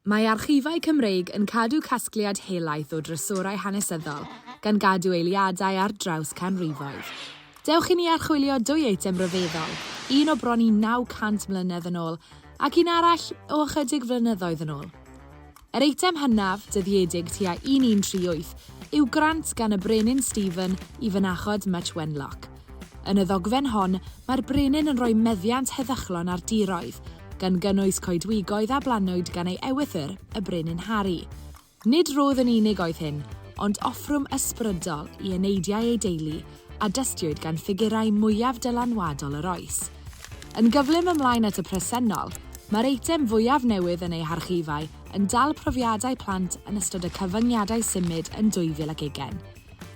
Mae Archifau Cymreig yn cadw casgliad helaeth o drysorau hanesyddol, gan gadw eiliadau ar draws canrifoedd. Dewch i ni archwilio dwy eitem ryfeddol, un o bron i 900 mlynedd yn ôl, ac un arall o ychydig flynyddoedd yn ôl. Yr eitem hynaf, dyddiedig tua 1138, yw grant gan y Brenin Stephen i fynachod Much Wenlock. Yn y ddogfen hon, mae'r brenin yn rhoi meddiant heddychlon ar diroedd, gan gynnwys coedwigoedd a blannwyd gan ei ewythr, y Brenin Harri. Nid rhodd yn unig oedd hyn, ond offrwm ysbrydol i eneidiau ei deulu, a dystiwyd gan ffigurau mwyaf dylanwadol yr oes. Yn gyflym ymlaen at y presennol, mae'r eitem fwyaf newydd yn ei harchifau yn dal profiadau plant yn ystod y cyfyngiadau symud yn 2000 ac ugain.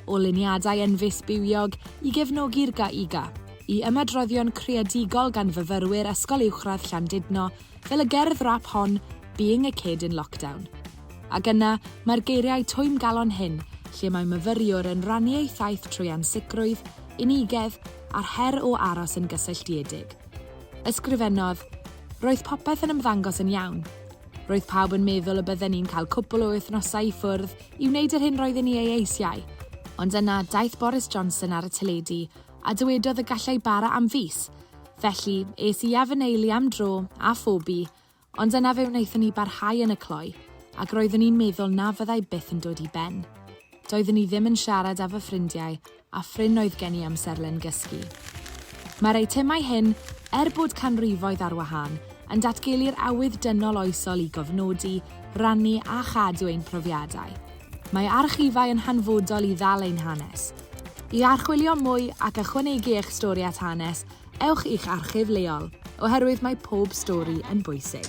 o luniadau enfys bywiog i gefnogi'r GAIGA, i ymadroddion creadigol gan fyfyrwyr Ysgol Uwchradd Llandudno fel y gerdd rap hon 'Being a Kid in Lockdown'. Ac yna, mae'r geiriau twymgalon hyn lle mae myfyriwr yn rannu ei thaith trwy ansicrwydd, unigedd a'r her o aros yn gysylltiedig. Ysgrifennodd, Roedd popeth yn ymddangos yn iawn. Roedd pawb yn meddwl y bydden ni'n cael cwpl o wythnosau i ffwrdd I wneud yr hyn roedden ni ei eisiau. Ond yna, daeth Boris Johnson ar y teledu a dywedodd y gallai bara am fis. Felly, es i a fy nheulu am dro, a Phoebe, ond yna fe wnaethon ni barhau yn y cloi, ac roeddwn i'n meddwl na fyddai byth yn dod i ben. Doeddwn i ddim yn siarad â fy ffrindiau a phrin oedd gen i amserlen gysgu. Mae'r eitemau hyn, er bod canrifoedd ar wahân, yn datgelu'r awydd dynol oesol i gofnodi, rannu a chadw ein profiadau. Mae archifau yn hanfodol i ddal ein hanes. I archwilio mwy ac ychwanegu eich stori at hanes, ewch i'ch archif leol, oherwydd mae pob stori yn bwysig.